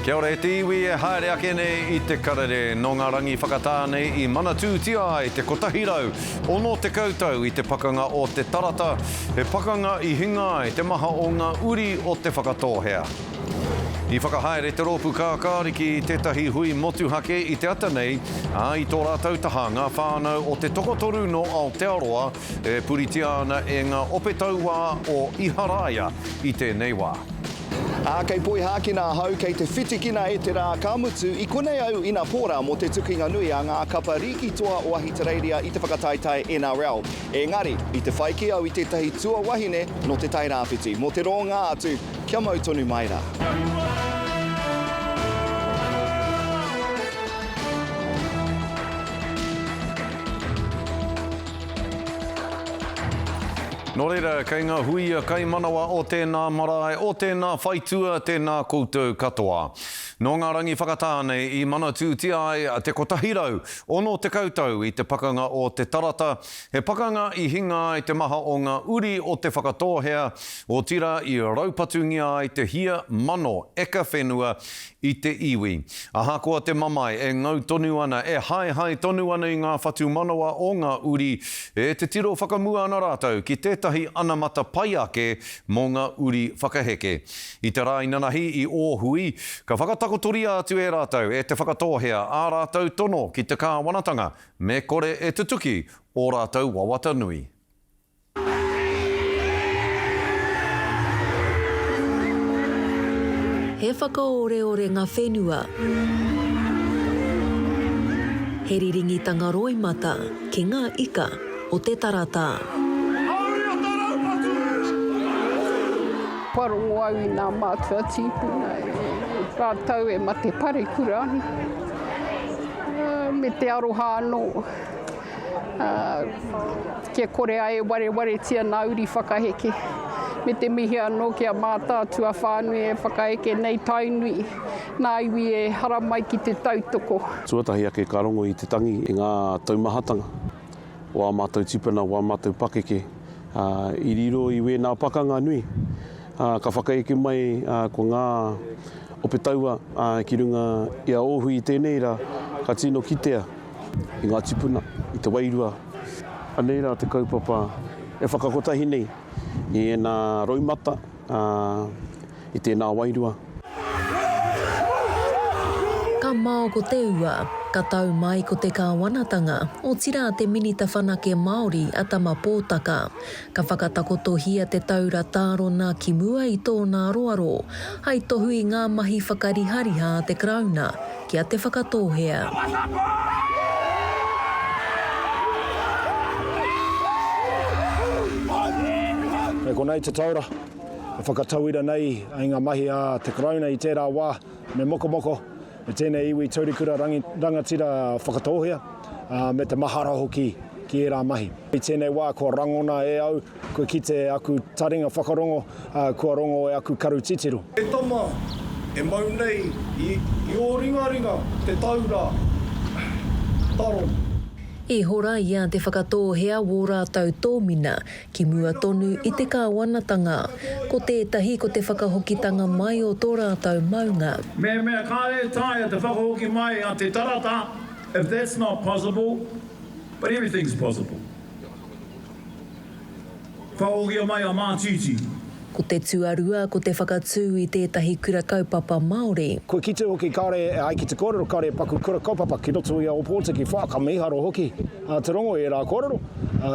Kia ora e te iwi e haere ake nei i te karere nō ngā rangi whakatā nei i manatūtia ai te 160 tau i te pakanga o Te Tarata, he pakanga i hinga ai te maha o ngā uri o Te Whakatōhea. I whakahaere te rōpū kākāriki i tētahi hui motuhake i te ata nei, ā, i tō rātou taha ngā whānau o te tokotoru nō Aotearoa e puritia ana e ngā ope tauā o Iharaia i tēnei wā. Ā, kei Poihākina ahau, kei te whitikina e te rā, ka mutu, i konei au ina pōra mō te tukinga nui a ngā kapa rīki toa o Ahitereiria i te whakataetae NRL. Engari, i te whai kē au i tētahi tuawahine nō Te Tai Rāwhiti, mō te rōngā atu, kia mau tonu mai rā. Nō reira, kei ngā huia kaimanawa o tēnā marae, o tēnā whaitua, tēnā koutou katoa. Nō ngā rangi whakatā nei i manatūtia ai te 160 tau i te pakanga o Te Tarata, he pakanga i hinga ai te maha o ngā uri o Te Whakatōhea, otirā i raupatungia ai te hia mano eka whenua i te iwi. Ahakoa te mamae e ngau tonu ana, e haehae tonu ana i ngā whatumanawa o ngā uri, e te tiro whakamua ana rātou ki tētahi anamata pai ake mō ngā uri whakaheke. I te rā inanahi i Ōhui, ka whakatakotoria atu e rātou, e Te Whakatōhea, ā rātou tono ki te kāwanatanga, me kore e tutuki ō rātou wawata nui. He whakaoreore nga whenua. He riringitanga roimata ki nga ika o te tarata. Kua rongo au i nga matua tipuna ratou e mate parekura ana me te aroha ano. Kia kore ai e warewaretia nā uri whakaheke, me te mihi anō ki a mātau tuawhānui e whakaheke nei Tainui nā iwi e haramai ki te tautoko. Tuatahi ake ka rongo i te tangi i ngā taumahatanga o ā mātou tipuna, o ā mātou pakeke i riro i wēnā pakanga nui. Ka whakaeke mai ko ngā ope taua ki runga i a Ōhui i tēnei rā, ka tino kitea. i ngā tipuna, i te wairua. Anei rā te kaupapa e whakakotahi nei i ēnā roimata, ā, i tēnā wairua. Ka mao ko te ua, ka tau mai ko te Kāwanatanga, otirā te Minita Whanake Māori a Tama Pōtaka. Ka whakatakotohia te taura tārona ki mua i tōna aroaro, hai tohu i ngā mahi whakarihariha a te Karauna, ki a Te Whakatōhea. Kei konei te taura e whakatauira nei i ngā mahi a te Karauna i tērā wā, me mokomoko e tēnei iwi taurikura rangatira whakatōhea, me te mahara hoki ki ērā mahi. I tēnei wā kua rangona e au Kua kite aku taringa whakarongo, ā, kua rongo e aku karu titiro. E tama, e mau nei i ō ringaringa te taura taro. I hora i a Te Whakatōhea wō rātou tōmina ki mua tonu i te Kāwanatanga. Ko tētahi ko te whakahokitanga mai o tō rātou maunga. Mehemea kāre e taea te whakahoki mai a Te Tarata, if that's not possible, but everything's possible. Ka ohia mai a Mātiti. Ko te tuarua ko te whakatū i tētahi kura kaupapa Māori. Kua kite hoki kare ai ki te kōrero kare paku kura kaupapa ki roto i a Ōpōtiki wha, ka miharo hoki a Te Rongo i ērā kōrero,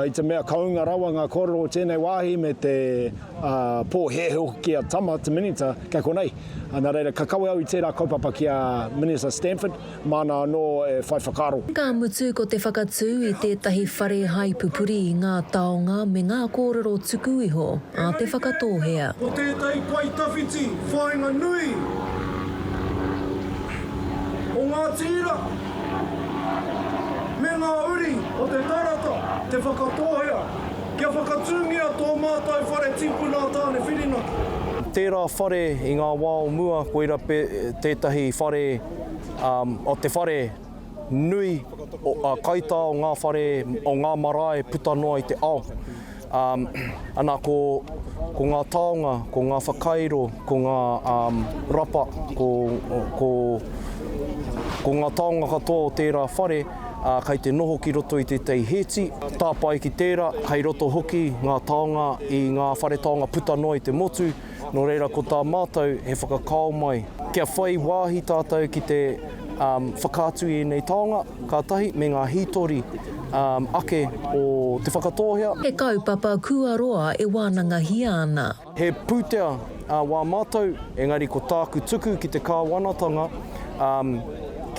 i te mea ka ūnga rawa ngā kōrero o tēnei wāhi me te pōhēhē hoki ki a Tama, te Minita, kei konei. Nā reira, ka kawe au i tērā kaupapa ki a Minita Stanford. Māna anō e whai whakaaro. Ka mutu ko te whakatū i tētahi whare hai pupuri i ngā taonga me ngā kōrero tuku iho a Te Whakatōhea. Ko tētahi pae tawhiti whāinga nui o ngā tīra me ngā uri o te tarata Te Whakatōhea kia whakatūngia tō mātou whare tīpuna a Tāne Whirinaki. Tērā whare i ngā wā o mua koira tētahi whare. o te whare nui, kaitā o ngā whare, o ngā marae puta noa i te ao. Ana ko ngā taonga, ko ngā whakairo, ko ngā rapa, ko ngā taonga katoa o tērā whare kei te noho ki roto i tētahi hēti, tāpae ki tērā, kei roto hoki ngā taonga i ngā whare taonga puta noa i te motu. Nō reira, ko tā mātou he whakakao mai, kia whai wāhi tātou ki te whakaatu i ēnei taonga, ka tahi me ngā hītori ake o Te Whakatōhea. He kaupapa kua roa e wānangahia ana. He pūtea wā mātou, engari ko tāku tuku ki te Kāwanatanga,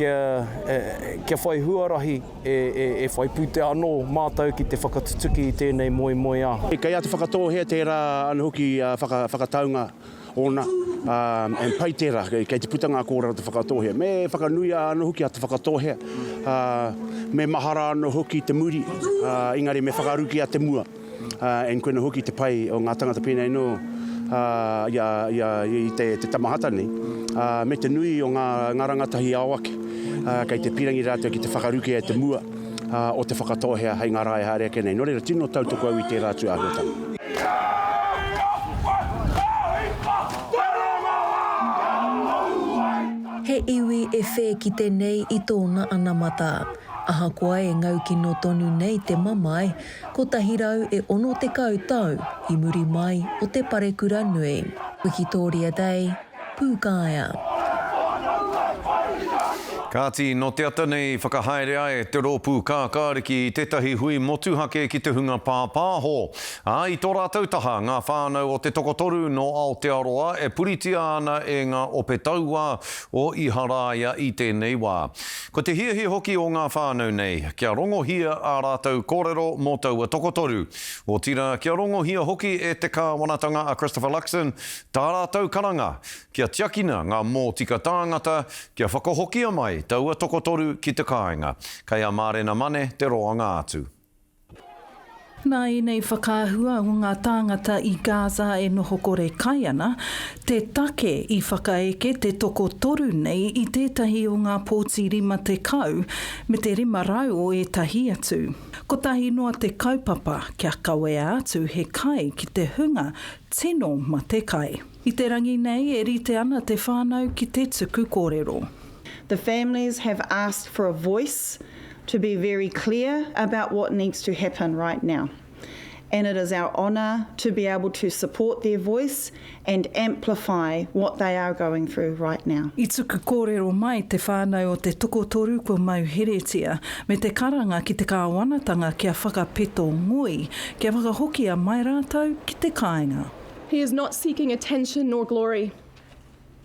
kia whai huarahi. e, e, e whai pūtea anō mātou ki te whakatutuki i tēnei moemoeā. E kei a Te Whakatōhea tērā anō hoki uh, whaka, whakataunga ōna, um, and pai tērā, kei, kei te puta ngā kōrero Te Whakatōhea. Me whakanuia anō hoki a Te Whakatōhea, uh, me mahara anō hoki te muri, uh, engari me whakarukia te mua. and koina hoki te pai o nga tangata penei no ia ia i te te tamahata nei me te nui o nga nga rangatahi ao ake kei te pirangi ratou ki te whakaruke e te mua o te whakatohea hei nga ra e haere ake nei no reira tino tautoko au i tera atu ahuatanga. He iwi e whē kite nei i tōna anamata. Ahakoa e ngaukino tonu nei te mamae, Kotahi rau e ono tekau tau i muri mai o te parekura nui. Wikitoria Day, Pūkaea. Kāti, nō te ata nei i whakahaere ai te rōpū kākāriki i tētahi hui motuhake ki te hunga pāpāho, ā, i tō rātou taha ngā whānau o te tokotoru nō Aotearoa e puritia ana e ngā ope tauā o Iharaia i tēnei wā. Ko te hiahia hoki o ngā whānau nei, kia rongohia ā rātou kōrero mō taua tokotoru. Otirā, kia rongohia hoki e te Kāwanatanga a Christopher Luxon tā rātou karanga, kia tiakina ngā mōtika tāngata, kia whakahokia mai taua tokotoru ki te kāinga. Kei a Mārena Mane te roanga atu. Nā ēnei whakaahua o ngā tāngata i Gaza e noho kore kai ana, te take i whakaeke te tokotoru nei i tētahi o ngā pōti 50, me te 500 o ētahi atu. Kotahi noa te kaupapa kia kawea atu he kai ki te hunga tino matekai. I te rangi nei e rite ana te whānau ki te tuku kōrero. The families have asked for a voice to be very clear about what needs to happen right now and it is our honour to be able to support their voice and amplify what they are going through right now. I tuku kōrero mai te whānau o te tokotoru kua mau heretia me te karanga ki te kāwanatanga kia whakapeto ngoi, kia whakahokia mai rātou ki te kāinga. He is not seeking attention nor glory.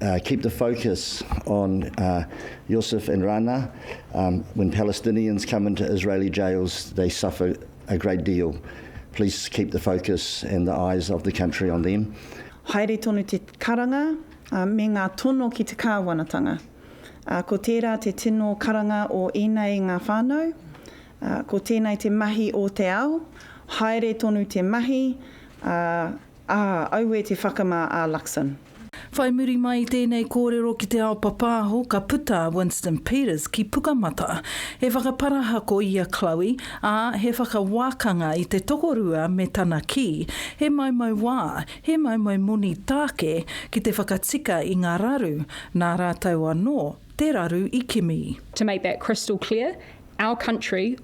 Uh, keep the focus on uh, Yusuf and Rana. Um, when Palestinians come into Israeli jails, they suffer a great deal. Please keep the focus and the eyes of the country on them. Haere tonu te karanga uh, me ngā tono ki te kāwanatanga. Uh, ko tērā te tino karanga o ēnei ngā whānau. Uh, ko tēnei te mahi o te ao. Haere tonu te mahi. Uh, ah, aue te whakamā a Luxon. Whai muri mai i tēnei kōrero ki te ao papāho ka puta a Winston Peters ki Pukamata. He whakaparahako i a Chloe, ā, he whakawākanga i te tokorua me tana kī, he maumau wā, he maumau moni tāke ki te whakatika i ngā raru, nā rātou anō te raru i kimi. To make that crystal clear, our country,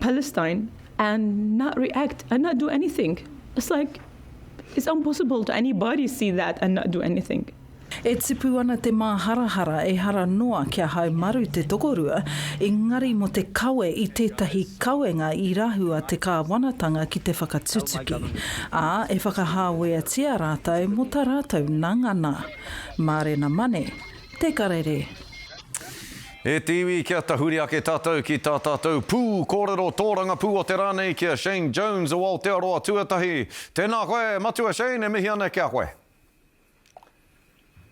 Palestine and not react and not do anything. It's like, it's impossible to anybody see that and not do anything. E tipu ana te māharahara ehara noa kia haumaru te tokorua, engari mō te kawe i tētahi kawenga i rahua te kāwanatanga ki te whakatutuki, ā, e whakahāweatia rātou mō tā rātou nangana. Mārena Mane, Te Karere. E te iwi kia tahuri ake tatou ki tā tatou pū kōrero tōrangapū o te rā nei ki a Shane Jones o Aotearoa Tuatahi. Tēnā koe, Matua Shane, e mihi ana ki a koe.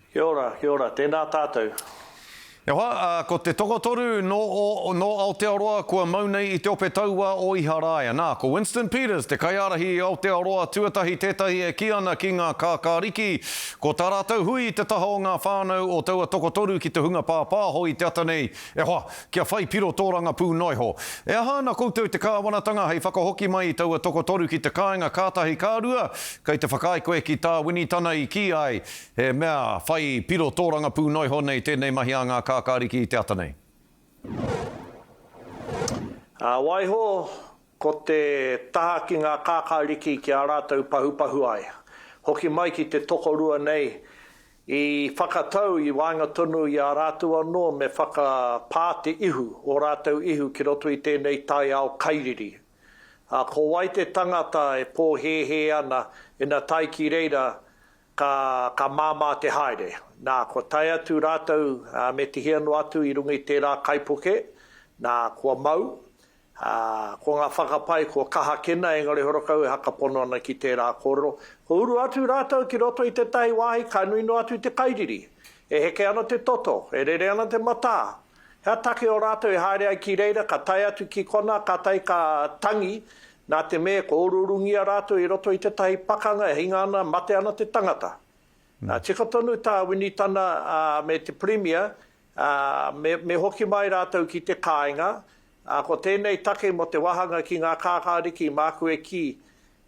Kia ora, kia ora, tēnā tātou. E hoa, ko te tokotoru nō o, nō Aotearoa kua mau nei i te ope taua o Iharaia. Nā, ko Winston Peters, te kaiārahi i Aotearoa Tuatahi tētahi e kī ana ki ngā kākāriki Ko tā rātou hui i te taha o ngā whānau o taua tokotoru ki te hunga pāpāho i te ata nei, e hoa, kia whai piro tō rangapū noa iho. E aha ana koutou te kāwanatanga hei whakahoki mai i taua tokotoru ki te kāinga ka tahi ka rua, kei te whakaae koe ki tā Winitana i kī ai, he mea whai piro tō rangapū noa iho nei tēnei mahi a ngā kākāriki i te ata nei? Ā, waiho, Ko te taha ki ngā kākāriki ki a rātou pahupahu ai. Hoki mai ki te tokorua nei, i whakatau i waenga tonu i a rātou anō me whakapā te ihu, ō rātou ihu ki roto i tēnei taiao kairiri. Ā, ko wai te tangata e pōhēhē ana ina tae ki reira ka, ka māmā te haere? Nā, kua tae atu rātou, ā, me tihia noa atu i runga i tērā kaipuke, nā, kua mau, Ā, ko ngā whakapae kua kaha kena, engari horokau e hakapono ana ki tērā kōrero, kua uru atu rātou ki roto i tētahi wāhi ka nui noa atu te kairiri. E heke ana te toto, e rere ana te matā. He aha take o rātou e haere ai ki reira, ka tae atu ki konā, kātahi ka tangi, nā te mea kua uruurungia rātou i roto i tētahi pakanga e hinga ana, mate ana te tangata. Tika tonu tā Winitana me te Pirimia Ā, me hoki mai rātou ki te kāinga, ā, ko tēnei take mō te wāhanga ki ngā kākāriki māku e kī,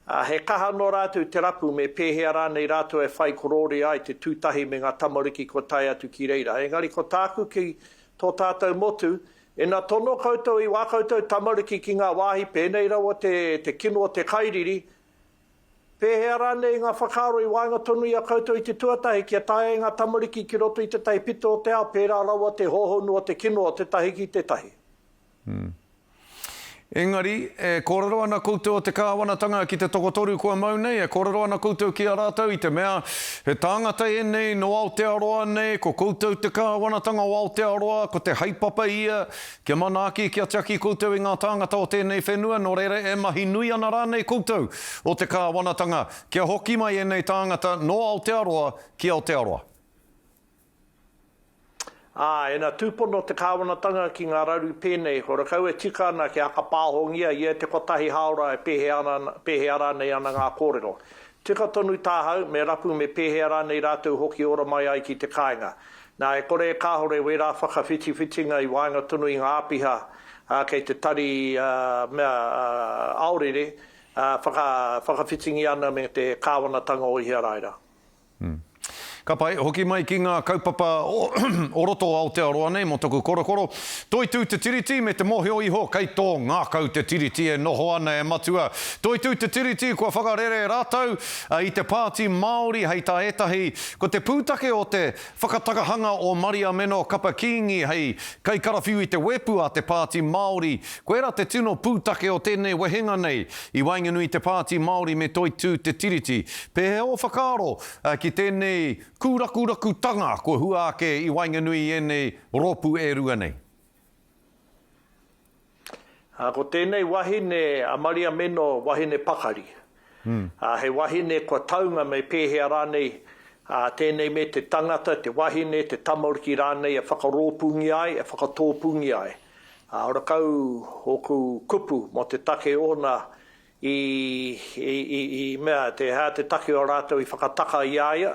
ā, he kaha nō rātou te rapu me pēhea rānei rātou e whai korōria ai te tū tahi me ngā tamariki kua tae atu ki reira. Engari ko tāku ki tō tātou motu, ina tono koutou i wā koutou tamariki ki ngā wāhi pēnei rawa te kino o te kairiri, Pēhea rānei ngā whakaaro i waenga tonu i a koutou i te tuatahi kia tae ai ngā tamariki ki roto i tētahi pito o te ao pērā rawa te hōhonu o te kino o tētahi ki tētahi? Engari, e kōrero ana koutou o te Kāwanatanga ki te tokotoru kua mau nei, e kōrero ana koutou ki a rātou i te mea, he tāngata ēnei nō Aotearoa nei, ko koutou te Kāwanatanga o Aotearoa, ko te haepapa ia, Kia manaaki, kia tiaki koutou i ngā tāngata o tēnei whenua, nō reira e mahi nui ana rānei koutou o te kāwanatanga, kia hoki mai ēnei tāngata nō Aotearoa ki Aotearoa. Ā, ina tūpono te kāwanatanga ki ngā raru pēnei, horakau e tika ana kia aka pāhongia ia e te kotahi hāora e pēhea ana, pēhea rānei ana ngā kōrero. Tika tonu tāhau, me rapu me pēhea rānei rātou hoki ora mai ai ki te kāinga. Nā, e kore e kāhore wērā whakawhitiwhitinga i waenga tonu i ngā āpiha kei te tari mea aorere whakawhitingia ana me te kāwanatanga o Iharaira. Ka pai, hoki mai ki ngā kaupapa o roto o Aotearoa nei mō taku korokoro, Toitū te Tiriti me te mōhio iho kei tō ngākau te Tiriti e noho ana e Matua. Toitū te Tiriti kua whakarere rātou i te Pāti Māori hei tā ētahi Ko te pūtake o te whakatakahanga o Maria Meno Kapa Kīngi hei kaikarawhiu i te wēpu a te Pāti Māori, koirā te tino pūtake o tēnei wehenga nei. I waenganui i te Pāti Māori me Toitū Te Tiriti, pēhea ō whakaaro ki tēnei kūrakurakutanga kua hua ake i waenganui i ēnei rōpū e rua nei? Ā, ko tēnei wahine a Maria Meno wahine pakari. Ā, he wahine kua taunga me pēhea rānei, ā, tēnei me te tangata, te wahine, te tamariki rānei e whakarōpūngia ai, e whakatōpūngia ai. Ā, ora kau ōku kupu mō te take ōna I, i, i, i mea, te, hea te take o rātou i whakataka i a ia,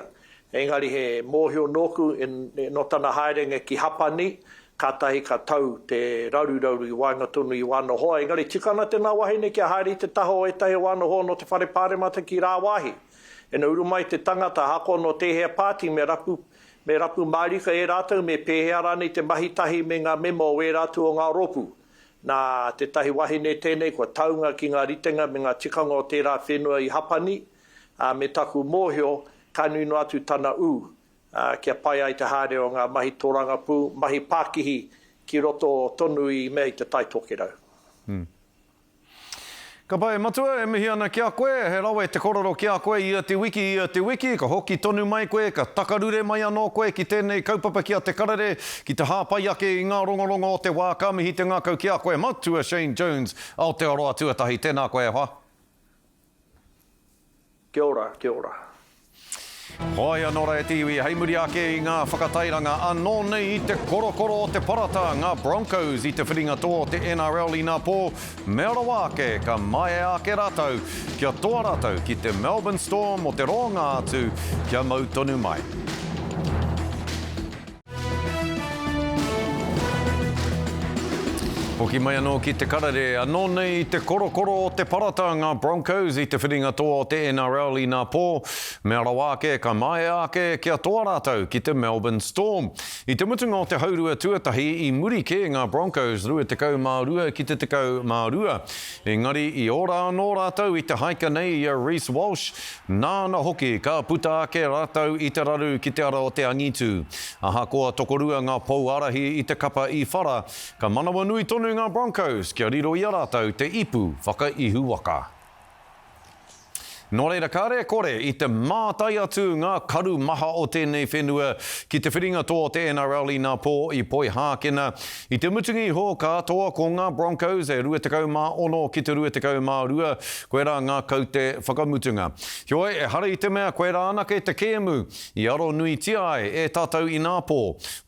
engari he mōhio nōku, in, nō tana haerenga ki Hapani, kātahi ka tau te raruraru i waenga tonu i wāna hoa, engari tika ana tēnā wahine kia haere i te taha o ētahi o wāna hoa nō te Whare Pāremata ki rāwāhi. Ina uru mai te tangata, ahakoa nō tēhea pāti, me rapu, me rapu mārika e rātou, me pēhea rānei te mahitahi me ngā mema o wērā atu o ngā rōpū. Nā tētahi wahine tēnei kua taunga ki ngā ritenga me ngā tikanga o tērā whenua i Hapani, ā, me taku mōhio, ka nui noa atu tana ū, ā, kia pai ai te haere o ngā mahi tōrangapū, mahi pākihi ki roto tonu i mea i te Tai Tokerau. Kapa e Matua, e mihi ana ki a koe, he rawe te korero ki a koe ia te wiki, ia te wiki, ka hoki tonu mai koe, ka takarure mai anō koe ki tēnei kaupapa ki a Te Karere, ki te hāpai ake i ngā rongorongo o te wā, ka mihi te ngākau ki a koe Matua Shane Jones, Aotearoa Tuatahi, tēnā koe e hoa. Kia ora, kia ora. Hoi anō rā e te iwi, hei muri ake i ngā whakatairanga anō nei i te korokoro o te parata, ngā Broncos i te whiringatō o te NRL inā pō, mea rawa ake ka maea ake rātou kia toa rātou ki te Melbourne Storm o te rōnga atu kia mau tonu mai. Hoki mai anō ki te karere, anō nei i te korokoro o te parata ngā Broncos i te whiringa toa o te NRL inā pō, mea rawa ake ka māia ake kia toa rātou ki te Melbourne Storm. I te mutunga o te haurua tuatahi i muri kē ngā Broncos 22 ki te 12, engari i ora anō rātou i te haika nei i a Reece Walsh, Nāna hoki ka puta ake rātou i te raru ki te ara o te angitu. Ahakoa tokorua ngā pou ārahi i te kapa i whara, ka manawanui tonu ngā Broncos kia riro i a rātou te ipu whakaihuwaka. Nō reira, kāre e kore i te mātai atu ngā karu maha o tēnei whenua ki te whiringa toa o te NRL inā pō i Poihākena, I te mutunga iho, ka toa ko ngā Broncos e 26 ki te 22, koirā ngā kaute whakamutunga. Heoi, ehara i te mea koirā anake te kēmu i aro nuitia ai e tātou inā pō.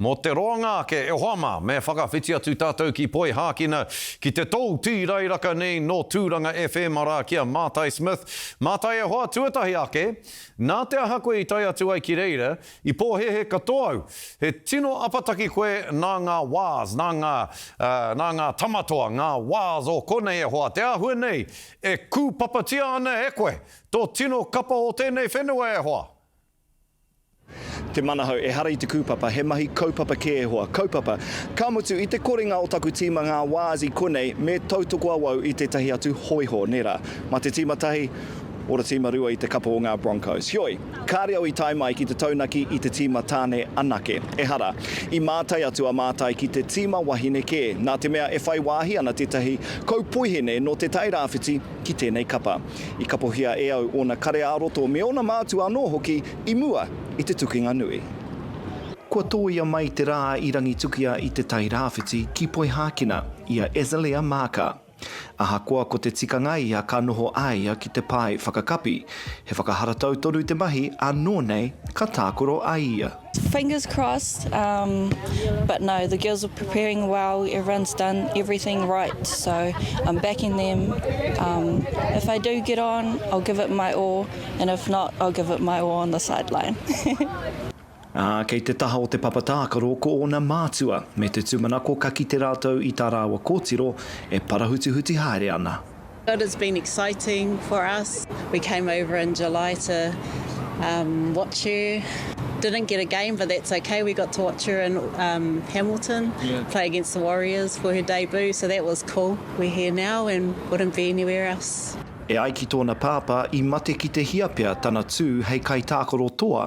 Mō te roanga ake e hoa mā, me whakawhiti atu tātou ki Poihākina, ki te tou tīrairaka nei nō Tūranga FM arā ki a Mātai Smith. Mātai e hoa, tuatahi ake, nā te aha koe i tae atu ai ki reira, I pōhēhē katoa au. He tino apataki koe nā ngā wāz, nā ngā, nā ngā tama toa, ngā wāz o konei e hoa, te āhua nei e kūpapatia ana e koe, tō tino kapa o tēnei whenua e hoa. Te Manahau, Ehara i te kūpapa, he mahi kaupapa kē e hoa. Kaupapa, Ka mutu, i te korenga o taku tīma ngā wāz i konei, me tautoko awau i tētahi atu hōiho, nē rā. Mā te tīma tahi, ora tīma rua i te kapa o ngā Broncos. Heoi. Kāre au i tae mai ki te taunaki i te tīma tāne anake. Ehara, i mātai atu a Mātai ki te tīma wahine kē, nā te mea e whai wāhi ana tētahi kaupoihene nō Te Tai Rāwhiti ki tēnei kapa. I kapohia e au ōna kare-ā-roto me ōna mātua anō hoki i mua i te tukinga nui. Kua tōia mai te rā i Rangitukia i Te Tai Rāwhiti ki Poihākina, i a Azalea Maaka. Ahakoa ko te tikanga ia ka noho a ia ki te pae whakakapi, he whakaharatau tonu te mahi ānō nei ka tākaro a ia. Fingers crossed um but no the girls were preparing well everyone's done everything right so I'm backing them um if I do get on I'll give it my all and if not I'll give it my all on the sideline. Ā, kei te taha o te papa tākaro ko ōna mātua me te tūmanako ka kite rātou i tā rāua kōtiro e parahutuhuti haere ana. It has been exciting for us, we came over in July to watch her, didn't get a game but that's ok, we got to watch her in Hamilton play against the Warriors for her debut so that was cool, we're here now and wouldn't be anywhere else. E ai ki tōna pāpā, i mate ki te hia pea tana tū hei kaitākaro toa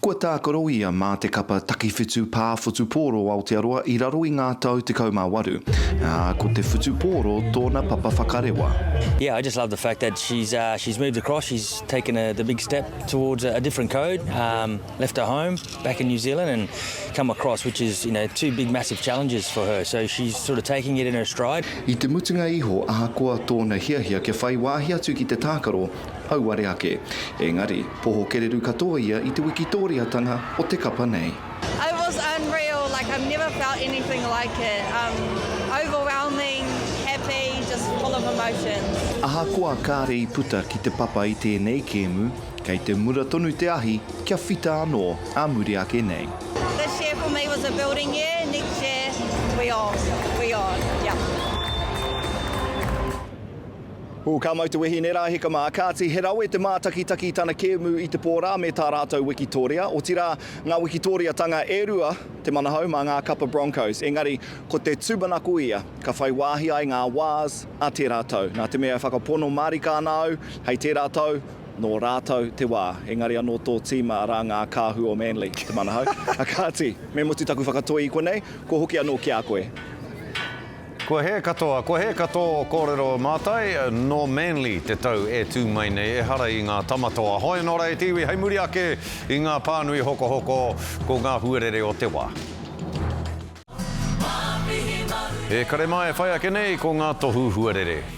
Kua tākaro ia mā te kapa takiwhitu pā whutupōro Aotearoa i raro i ngā tau 18, ā, ko te whutupōro tōna papa whakarewa. Yeah, I just love the fact that she's uh, she's moved across, she's taken a, the big step towards a, a different code, um, left her home back in New Zealand and come across, which is, you know, two big massive challenges for her, so she's sort of taking it in her stride. I te mutunga iho, ahakoa tōna hiahia kia whai wāhi atu ki te tākaro, Auare ake. Engari, poho kereru katoa ia i te wikitōriatanga o te kapa nei. It was unreal, like I've never felt anything like it, um, overwhelming, happy, just full of emotions. Ahakoa kāre i puta ki te papa i tēnei kēmu, kei te mura tonu te ahi kia whita anō ā muri ake nei. This year for me was a building year, next year we on, we on, yeah. Ū, ka mau te wehi i nērā hika mā, kāti, he rawe te mātakitaki i tana kēmu i te pō rā me tā rātou wikitoria, otirā, ngā wikitoriatanga e rua te manahau mā ngā kapa Broncos, engari, ko te tūmanako ia, ka whai wāhi ai ngā Wās a tērā tau. Nā te mea e whakapono mārika ana au, hei tērā tau, nō rātou te wā. Engari anō tō tīma, arā, ngā Kāhu o Manly, te manahau. Kāti, me mutu taku whakatoi i konei, kua hoki anō ki a koe. Kua hē katoa, kua hē ka tō kōrero mātai, nō Manly te tau e tū mai nei, ehara i ngā tama toa. Hoi nō rā e te iwi, hei muri ake i ngā pānui hokohoko, ko ngā huarere o te wā. E kare mā e whai ake nei ko ngā tohu huarere.